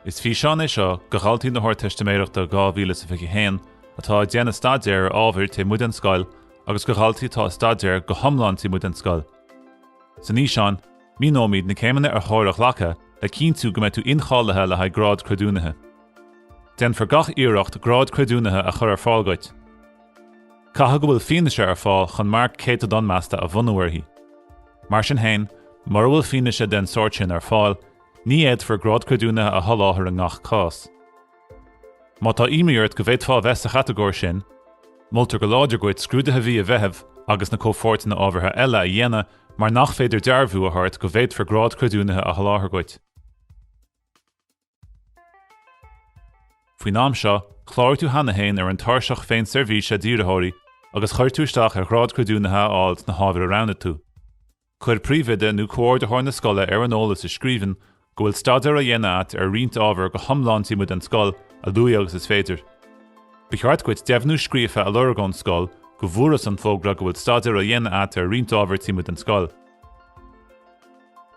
Is físeán é seo go dhaltaí na hArdteistiméireachta 2021 atá ag déanamh staidéar ar ábhair taobh amuigh den scoil agus go dhaltaí atá ag staidéar go hiomlán taobh amuigh den scoil. San fhíseán, míneoimid na céimeanna ar chóir a ghlacadh le cinntiú go mbeidh tú incháilithe le haghaidh grád creidiúnaithe. Déanfar gach iarracht grád creidiúnaithe a chur ar fáil duit. Caithfidh go bhfuil fianaise ar fáil chun marc céatadán measta a bhunú uirthi. Mar sin féin, mura bhfuil fianaise den sórt sin ar fáil, Ní fhéadfar grád creidiúnaithe a sholáthar i ngach cás. Má tá imní ort go bhféadfá a bheith sa chatagóir sin, moltar go láidir duit scrúduithe mhí an Mheithimh agus na comhpháirteanna ábhartha eile a dhéanamh mar nach féidir dearbhú a thabhairt go bhféadfar grád creidiúnaithe a sholáthar duit. Faoin am seo, chláraigh tú cheana féin ar an Tairseach Féinseirbhíse d'Iarrthóirí agus chuir tú isteach ar ghrád creidiúnaithe a fháil sna hábhair a roghnaigh tú. Cuir príomhoide nó comhordaitheoir na scoile ar an eolas i scríbhinn go bhfuil staidéar á dhéanamh agat ar roinnt ábhar go hiomlán taobh amuigh den scoil, a luaithe agus is féidir. Ba cheart duit deimhniú scríofa a lorg ón scoil go bhfuarthas an fógra go bhfuil staidéar á dhéanamh agat ar roinnt ábhar taobh amuigh den scoil.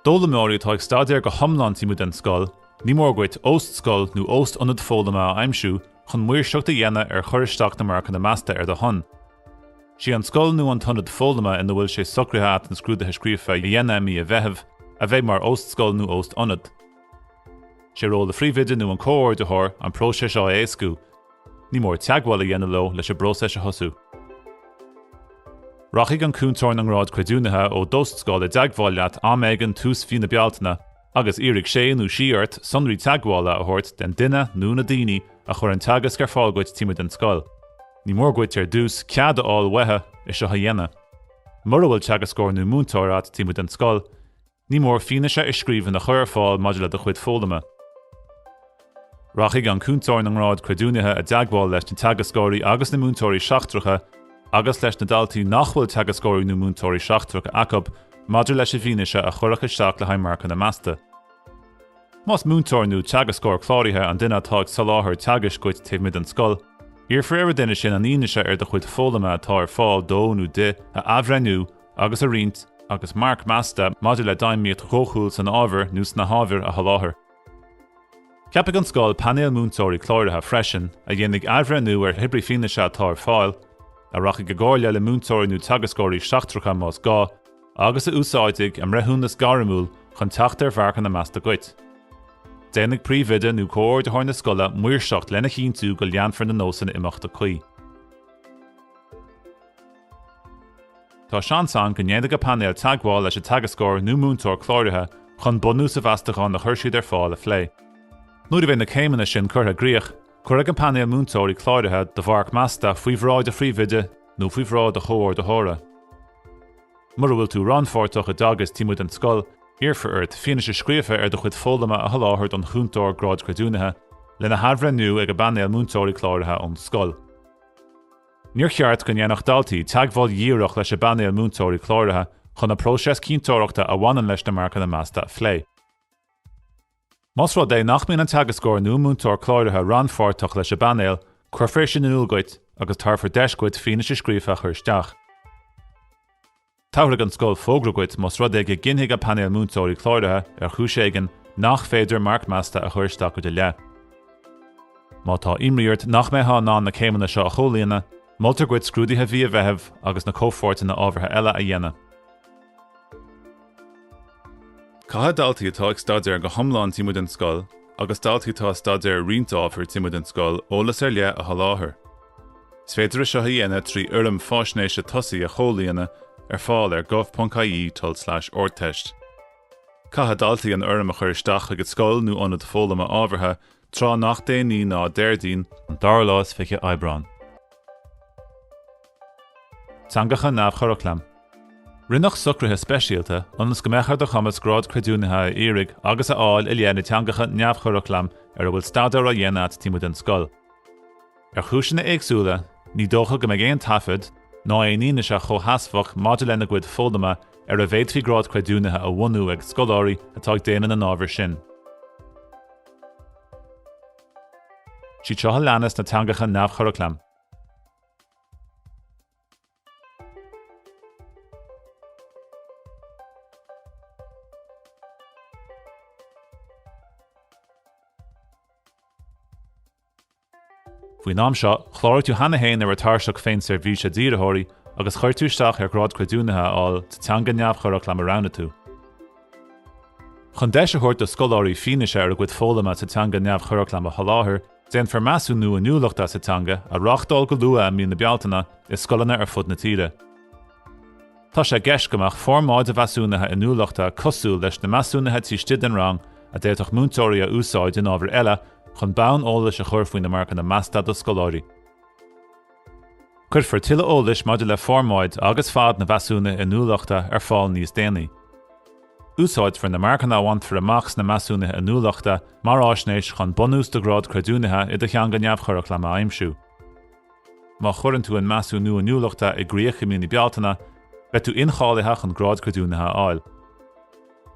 D'fhoghlaimeoirí atá ag staidéar go hiomlán taobh amuigh den scoil, ní mór duit óst-scoil nó óst-ionad foghlama a aimsiú chun maoirseacht a dhéanamh ar chur isteach na marcanna measta ar do shon. Is í an scoil nó an t-ionad foghlama ina bhfuil sé socraithe agat na scrúduithe scríofa a dhéanamh i mí an Mheithimh a bheidh mar óst-scoil nó óst-ionad. Sé ról an phríomhoide nó an comhordaitheoir an próiseas seo a éascú. Ní mór teagmháil a dhéanamh leo leis an bpróiseas a thosú. Rachaidh an cúntóir na ngrád creidiúnaithe ó d'óst-scoil i dteagmháil leat am éigin tús mhí na Bealtaine agus iarrfaidh sé nó sí ort sonraí teagmhála a thabhairt den duine nó na daoine a chuir an teagasc ar fáil duit taobh amuigh den scoil. Ní mór duit ar dtús cead a fháil uathu é seo a dhéanamh. Mura bhfuil teagascóir nó múinteoir agat taobh amuigh den scoil, ní mór fianaise i scríbhinn a chur ar fáil maidir le do chuid foghlama. Rachaidh an cúntóir na ngrád creidiúnaithe i dteagmháil leis na teagascóirí agus na múinteoirí seachtracha agus leis na daltaí nach bhfuil teagascóirí nó múinteoirí seachtracha acu maidir leis an bhfianaise a chuirfeadh isteach le haghaidh marcanna measta. Más múinteoir nó teagascóir cláraithe an duine atá ag soláthar teagaisc duit taobh amuigh den scoil, iarrfar ar an duine sin an fhianaise ar do chuid foghlama atá ar fáil dó nó di a athbhreithniú agus a roinnt agus marc measta maidir le d'fheidhmíocht dhóchúil san ábhar nó sna hábhair a sholáthar. Ceapfaidh an scoil painéal múinteoirí cláraithe freisin, a dhéanfaidh athbhreithniú ar hébrí fianaise atá ar fáil, a rachaidh i gcomhairle le múinteoirí nó teagascóirí seachtracha más gá, agus a úsáidfidh a mbreithiúnas gairmiúil chun teacht ar mharcanna measta duit. Déanfaidh príomhoide nó comhordaitheoir na scoile maoirseacht lena chinntiú go leanfar na nósanna imeachta cuí. Tá seans ann go ndéanfaidh an painéal teagmháil leis an teagascóir nó múinteoir cláraithe chun bunús an mheastacháin a chuir siad ar fáil a phlé. Nuair a bheidh na céimeanna sin curtha i gcrích, cuirfidh an painéal múinteoirí cláraithe do mharc measta faoi bhráid an phríomhoide nó faoi bhráid an chomhordaitheora. Mura bhfuil tú rannpháirteach i dteagasc taobh amuigh den scoil, iarrfar ort fianaise scríofa ar do chuid foghlama a sholáthar don Chúntóir Gráid Creidiúnaithe, lena hathbhreithniú ag an bpainéal múinteoirí cláraithe ón scoil. Níor cheart go ndéanfadh daltaí teagmháil dhíreach leis an bpainéal múinteoirí cláraithe chun an próiseas cinnteoireachta a bhaineann leis na marcanna measta a phlé. Más rud é nach mbíonn an teagascóir nó múinteoir cláraithe rannpháirteach leis an bpainéal, cuirfear sin in iúl duit agus tabharfar deis duit fianaise scríofa a chur isteach. Tabharfaidh an scoil fógra duit más rud é go gcinnfidh an Painéal Múinteoirí Cláraithe, ar chúis éigin, nach féidir marc measta a chur isteach i do leith. Má tá imní ort nach mbeifeá in ann na céimeanna seo a chomhlíonadh, moltar duit scrúduithe mhí an Mheithimh agus na comhpháirteanna ábhartha eile a dhéanamh. Caithfidh daltaí atá ag staidéar go hiomlán taobh amuigh den scoil agus daltaí atá ag staidéar roinnt ábhar taobh amuigh den scoil eolas ar leith a sholáthar. Is féidir é seo a dhéanamh trí fhoirm faisnéise tosaigh a chomhlíonadh, ar fáil ar gov.ie tulslais ardteist. Caithfidh daltaí an fhoirm a chur isteach chuig an scoil nó ionad foghlama ábhartha tráth nach déanaí ná Déardaoin, an dara lá is fiche Aibreán. Teangacha neamhchuraclaim. Rinneadh socruithe speisialta ionas go mbeadh ar do chumas Grád Creidiúnaithe a iarraidh agus a fháil i leith na dteangacha neamhchuraclaim ar a bhfuil staidéar á dhéanamh agat taobh amuigh den scoil. Ar chúiseanna éagsúla, ní dócha go mbeidh aon taifead ná aon fhianaise chomhsheasmhach maidir lena gcuid foghlama ar a bhféadfaí grád creidiúnaithe a bhunú ag scoláirí atá ag déanamh na n-ábhar sin. Is iad seo a leanas na teangacha neamhchuraclaim. Faoin am seo, chláraigh tú cheana féin ar an Tairseach Féinseirbhíse d'Iarrthóirí agus chuir tú isteach ar Ghrád Creidiúnaithe a fháil sa teanga neamhchuraclaim a roghnaigh tú. Chun deis a thabhairt do scoláirí fianaise ar a gcuid foghlama sa teanga neamhchuraclaim a sholáthar, déanfar Measúnú Inniúlachta sa Teanga a reáchtáil go luath i mí na Bealtaine i scoileanna ar fud na tíre. Tá sé i gceist go mbeadh formáid an mheasúnaithe inniúlachta cosúil leis na measúnuithe taobh istigh den rang a d'fhéadfadh múinteoirí a úsáid in ábhair eile chun bonn eolais a chur faoi na marcanna measta do scoláirí. Cuirfear tuilleadh eolais maidir le formáid agus fad an mheasúnaithe inniúlachta ar fáil níos déanaí. Úsáidfear na marcanna a bhainfear amach sna measúnuithe inniúlachta mar fhaisnéis chun bunús do ghrád creidiúnaithe i do theanga neamhchuraclaim a aimsiú. Má chuireann tú an Measúnú Inniúlachta i gcrích i mí na Bealtaine, beidh tú incháilithe chun Grád Creidiúnaithe a fháil.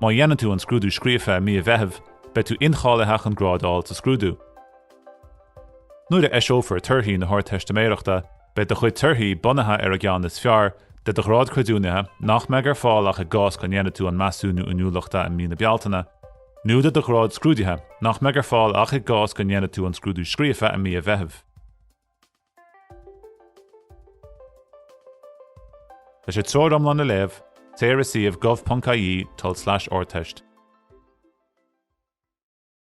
Má dhéanann tú an scrúdú scríofa i mí an Mheithimh, beidh tú incháilithe chun grád a fháil sa scrúdú. Nuair a eiseofar torthaí na hArdteistiméireachta, beidh do chuid torthaí bunaithe ar an gceann is fearr de do Ghrád Creidiúnaithe nach mbeidh ar fáil ach i gcás go ndéanfaidh tú an Measúnú Inniúlachta i mí na Bealtaine, nó de do ghrád scrúdaithe, nach mbeidh ar fáil ach i gcás go ndéanfaidh tú an scrúdú scríofa i mí an Mheithimh. Leis an treoir iomlán a léamh, téigh ar suíomh gov.ie tulslais ardteist.